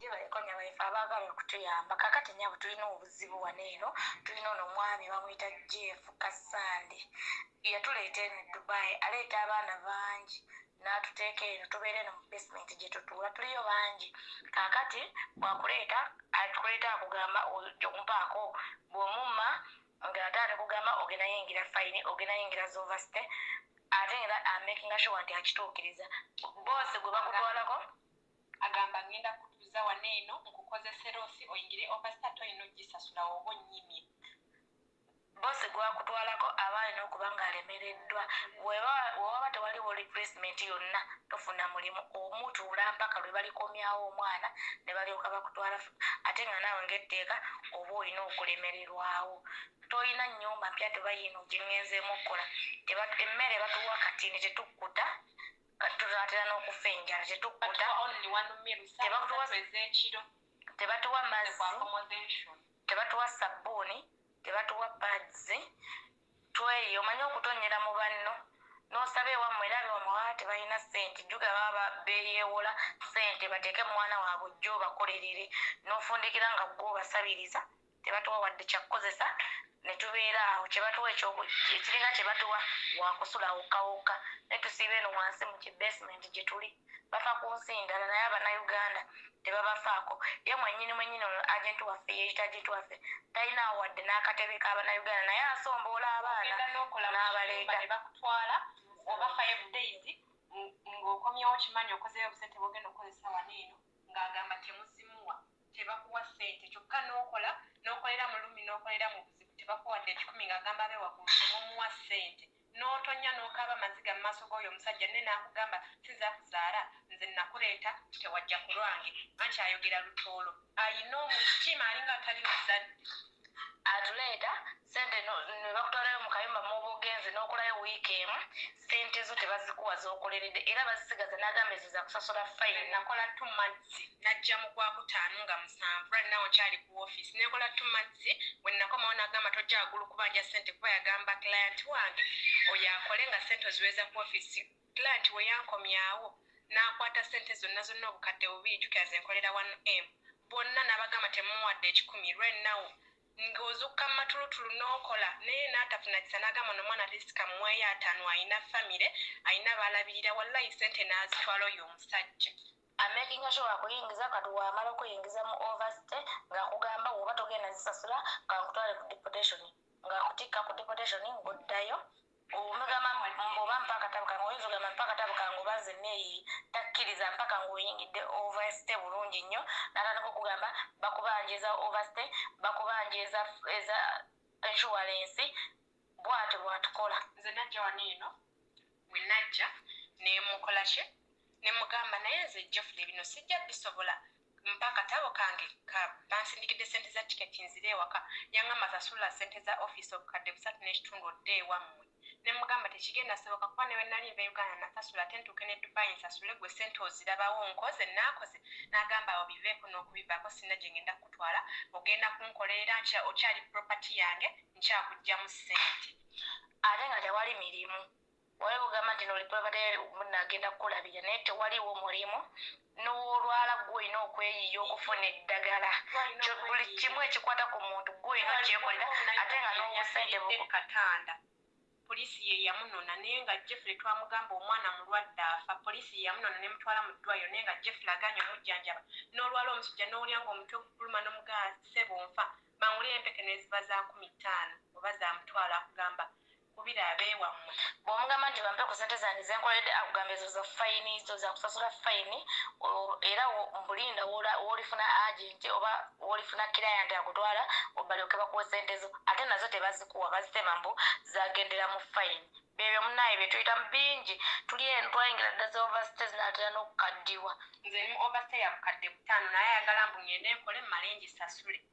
Yebaleko nyabo ife abagala okutuyamba kakati nyabo tulina obuzibu wano eno tulina ono omwami bamuyita Jeff Kasande yatuleeta eno Dubai aleeta abaana bangi n'atuteeka eno tubeera eno mu basement gye tutuula tuliyo bangi kakati bwakuleeta atukuleeta akugamba ompaako bw'omumma nga ate alikugamba ogenda yingira fayini ogenda yingira zovasite ate era amakinga sure nti akituukiriza boosi gwe bakutwalako Agamba ngenda kutuza wano eno nkukozese losi oyingire overstar toyina ojisasula woba onyimye. Boss gwakutwalako aba alina okuba nga alemereddwa bweba wewaba tewaliwo replacement yonna tofuna mulimu omu tuula mpaka lwebalikomyawo omwana nebalyoka bakutwala ate nga naawe nga etteeka oba olina okulemererwawo tolina nyumba mpya tuba yiino jengenzeemu okukola emmere batuwa katini tetukkuta kati tunaatera n'okufa enjala tetukkuta tebatuwa mazzi tebatuwa sabbuuni tebatuwa pads tweyo omanyi okutonnyera mu banno n'osaba ewammwe era bewammwe baba tebalina ssente juga baba beeyeewola ssente bateeke mwana waabwe ojja obakolerere n'ofundikira nga gwe obasabiriza Tebatuwa wadde kya kukozesa ne tubeera awo. Kye batuwa eky'oku, ekiringa kye batuwa wa kusula wokka wokka, naye tusiiba eno wansi mu ki basement gye tuli. Bafa ku nsi ndala, naye Abannayuganda tebabafaako. Ye mwennyini mwennyini ono agenti waffe yeeyita agenti waffe, talinaawo wadde n'akatebe ka Bannayuganda, naye asomboola abaana n'abaleeta. Ne bakutwala, oba five days, nga okomyewo okimanyi okozeeyo obusente bw'ogenda okukozesa wano eno, nga agamba temuzimuwa. tebakuwa sente kyokka nokola nokolera mulumi nokolera mubuzibu tebakuwa wadde ekikumi nga agamba abe wagulu temumuwa sente notonya nokaaba amaziga mumaaso goyo omusajja nne nakugamba sinza kuzaara nze nakureeta tewajja kulwange anti ayogera lutoolo ayina omutima alinga atali muzadde atuleeta Sente no, nebakutwalayo mukayumba mwoba ogenze nokolayo week emu sente zo tebazikuwa zokolerede era bazisigaza nagamba ezo zakusasula fine. Nakola two months najja mugwakutaano nga musanvu right now nkyali ku office nekola two months wenakomawo nagamba tojja wagulu kubanja sente kuba yagamba client wange oyo akole nga sente oziweza ku office client weyankomyawo nakwata sente zonna zonna obukadde bubiri jukira zenkolera one m bonna nabagamba temuwadde ekikumi right now nga ozukka mumatulutulu nokola naye natafuna kisa nagamba no mwana atleast kamweyo atano ayina family ayina balabirira wallayi sente nazitwala oyo omusajja amakinga sure akuyingiza kati wamala okuyingiza mu overstay nga akugamba woba togenda zisasula kankutwale ku deportation nga akutikka ku deportation ngoddayo Omugamba mbu oba mpa akatabo kange oyinza ogamba mpa akatabo kange oba nze neeyi takkiriza mpaka ng'oyingidde overstay bulungi nnyo n'atandika okugamba bakubanja eza overstay bakubanja eza eza insurance bwatyo bwatukola. Nze najja wano eno we najja ne mmukola ki ne mmugamba naye nze Geoffrey bino sijja bisobola Mpa akatabo kange ka bansindikidde ssente za tiketi nzire ewaka. Yangamba sasula ssente za ofiisi obukadde busatu n'ekitundu odde ewammwe. Ne mmugamba tekigenda kusoboka kuba ne bwe nnali nva e Uganda nnasasula ate ntuuke ne Dubai nsasule ggwe ssente ozirabawo. Nkoze nnaakoze. N'agamba awo biveeko n'okubivaako sirina gye ngenda kukutwala, ogenda kunkolera era nkira okyali property yange nkyakuggyamu ssente. Ate nga tewali mirimu. Wali ogamba nti noli pabadee muna agenda kukulabira naye tewaliwo mulimu nowolwala gwe olina okweyiya okufuna eddagala buli kimu ekikwata ku muntu gwe olina okyekolera ate nga nobusente bukatanda poliisi ye yamunona naye nga Jeffrey twamugamba omwana mulwadde afa poliisi ye yamunona nemutwala mu ddwaliro naye nga Jeffrey aganye omujjanjaba nolwala omusujja nowulira nga omutwe gukuluma nomugamba ssebo nfa bangulire empeke neziba za kumi ttaano oba zamutwalo akugamba Kubira abewamwe. Bwomugamba nti bampe kusente zange zenkoledde akugamba ezo za fayini zo zakusasula fayini era mbu linda wolifuna agenti oba wolifuna client akutwala balyoke bakuwe sente zo ate nazo tebazikuwa bazitema mbu zagendera mu fayini byebyo munaye byetuyitamu bingi tuli eno twayingira dda za overstay zinatera nokukaddiwa. Nze ndi mu overstay ya bukadde butaano naye ayagala mbu ngende nkole mmale ngisasule.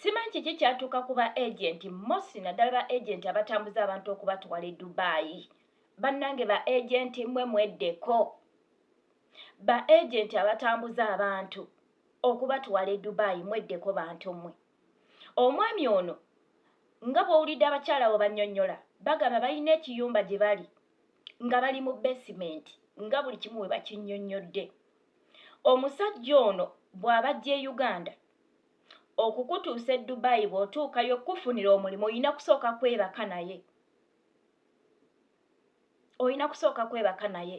Simanyi kiki kyatuuka ku ba agenti mosi naddala ba agenti abatambuza abantu okubatwala e Dubai. Bannange ba agenti mwe mweddeko. Ba agenti abatambuza abantu okubatwala e Dubai mweddeko bantu mwe. Omwami ono nga bw'owulidde abakyala abo bannyonnyola bagamba balina ekiyumba gye bali nga bali mu basement nga buli kimu we bakinnyonnyodde. Omusajja ono bw'abajja e Uganda okukutuusa e dubai bw'otuukayo okukufunira omulimu olina kusooka kwebaka naye olina kusooka kwebaka naye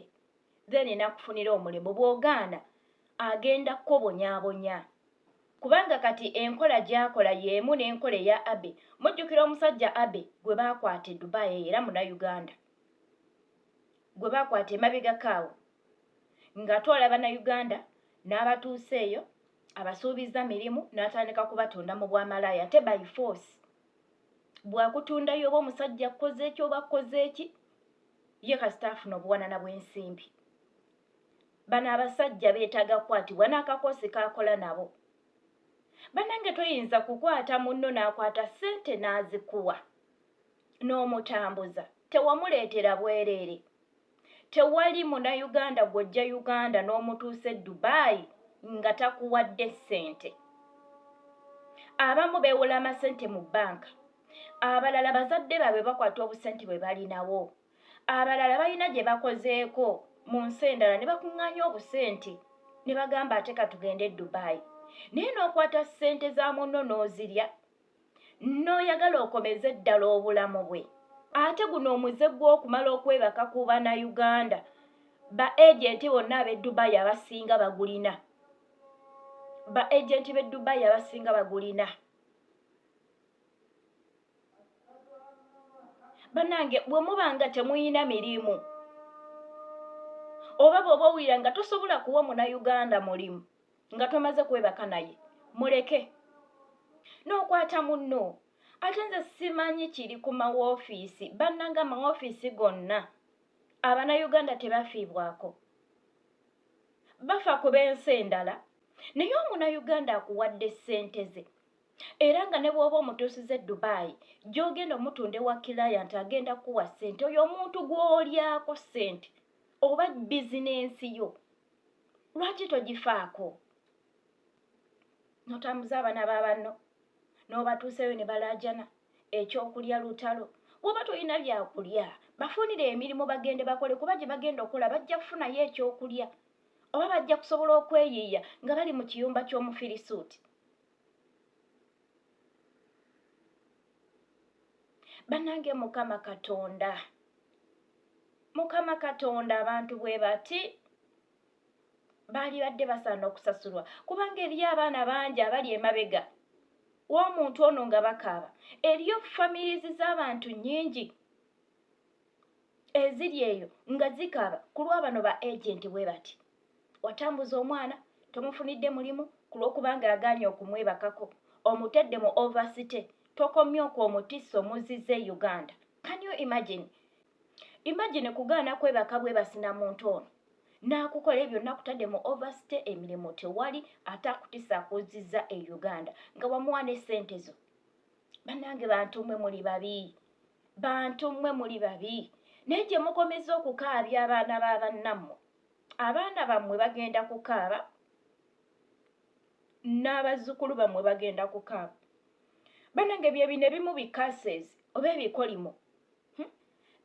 then enakufunira omulimu bw'ogaana agenda kukobonyabonya kubanga kati enkola gy'akola y'emu n'enkola eya abe mujjukira omusajja abe gwe baakwata e dubai era muna uganda gwe baakwata emabegako awo ng'atwala bannayuganda n'abatuusa eyo abasuubizza mirimu n'atandika kubatunda mu bwamalaaya ate by force bwakutundayo oba omusajja akkoze eki oba akkoze eki ye kasita afuna obuwanana bw'ensimbi bano abasajja beetaaga kukwatibwa n'akakoosi kaakola nabo banange toyinza kukwata munno n'akwata ssente n'azikuwa n'omutambuza tewamuleetera bwereere tewali munauganda gwojja uganda n'omutuusa e dubai nga takuwadde ssente abamu bewola amasente mu banka abalala bazadde baabwe bakwata obusente bwe balinawo abalala balina gye bakozeeko mu nsi endala ne bakuŋŋaanya obusente ne bagamba ate katugende e dubai naye n'okwata ssente za munno n'ozirya n'oyagala okomeze ddala obulamu bwe ate guno omuze gw'okumala okwebaka ku bannayuganda ba agenti bonna ab'e dubayi abasinga bagulina ba agenti b'e dubayi abasinga bagulina banange bwe muba nga temuyina mirimu oba bw'oba owulira nga tosobola kuwa munayuganda mulimu nga tomaze kwebaka naye muleke n'okwata munno ate nze simanyi kiri ku mawoofiisi bannanga amawoofiisi gonna abanauganda tebafiibwako bafa ku b'ensi endala naye omunauganda akuwadde ssente ze era nga ne bw'oba omutuusiza e dubaayi gy'ogenda omutunda ewa kilayanti agenda kukuwa ssente oyo omuntu gw'olyako ssente oba bizinensi yo lwaki togifaako notambuza abaana babanno n'obatuuseyo ne balaajana ekyokulya lutalo woba tolina byakulya bafunire emirimu bagende bakole kuba gye bagenda okukola bajja kufunayo ekyokulya oba bajja kusobola okweyiiya nga bali mu kiyumba ky'omufirisuuti banange mukama katonda Mukama Katonda abantu bwe bati baali badde basaana okusasulwa kubanga eriyo abaana bangi abali emabega w'omuntu ono nga bakaaba eriyo families z'abantu nyingi eziri eyo nga zikaaba ku lwabano ba agenti bwe bati watambuza omwana tomufunidde mulimu ku lw'okubanga agaanye okumwebakako omutedde mu oversite tokomye okwo omutisa omuzize uganda can you imagine imagine kugaana kwebaka bwebasina muntu ono nakukola ebyo nakutadde mu overstay emirimu tewali ate akutisa akuziza e uganda nga wamuwa ne sente zo banange bantu mwe muli babi bantu mwe muli babi naye gye mukomeza okukaabya abaana ba bannammwe abaana bammwe bagenda kukaaba n'abazzukulu bammwe bagenda ku kaapu banange byebino ebimu bicases oba ebikolimo hmm?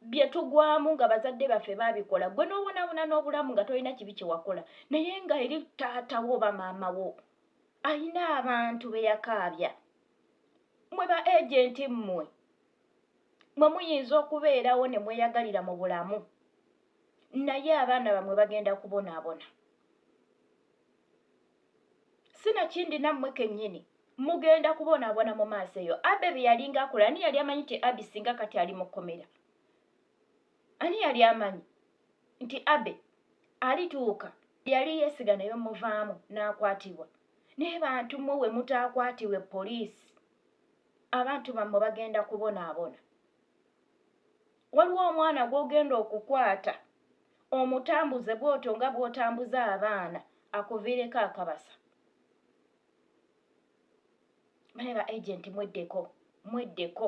bye tugwamu nga bazadde baffe babikola gwe n'obonabona n'obulamu nga tolina kibi kyewakola naye nga eri taatawo oba maama wo alina abantu be yakaabya mwe ba agenti mmwe mwe muyinza okubeerawo ne mweyagalira mu bulamu naye abaana bamwe bagenda kubonaabona sinakindi nammwe kennyini mugenda kubonaabona mu maaso eyo abe bye yalinga akola ani yali amanyi nti abi singa kati ali mu kkomera ani yali amanyi nti abe alituuka yali yeesiga naye omuvaamu n'akwatibwa naye bantu mmwe we mutaakwatibwe poliisi abantu bammwe bagenda kubonaabona Waliwo omwana gw'ogenda okukwata omutambuze bw'otyo nga bw'otambuza abaana akuviireko akabasa. Naye ba agenti mweddeko, mweddeko.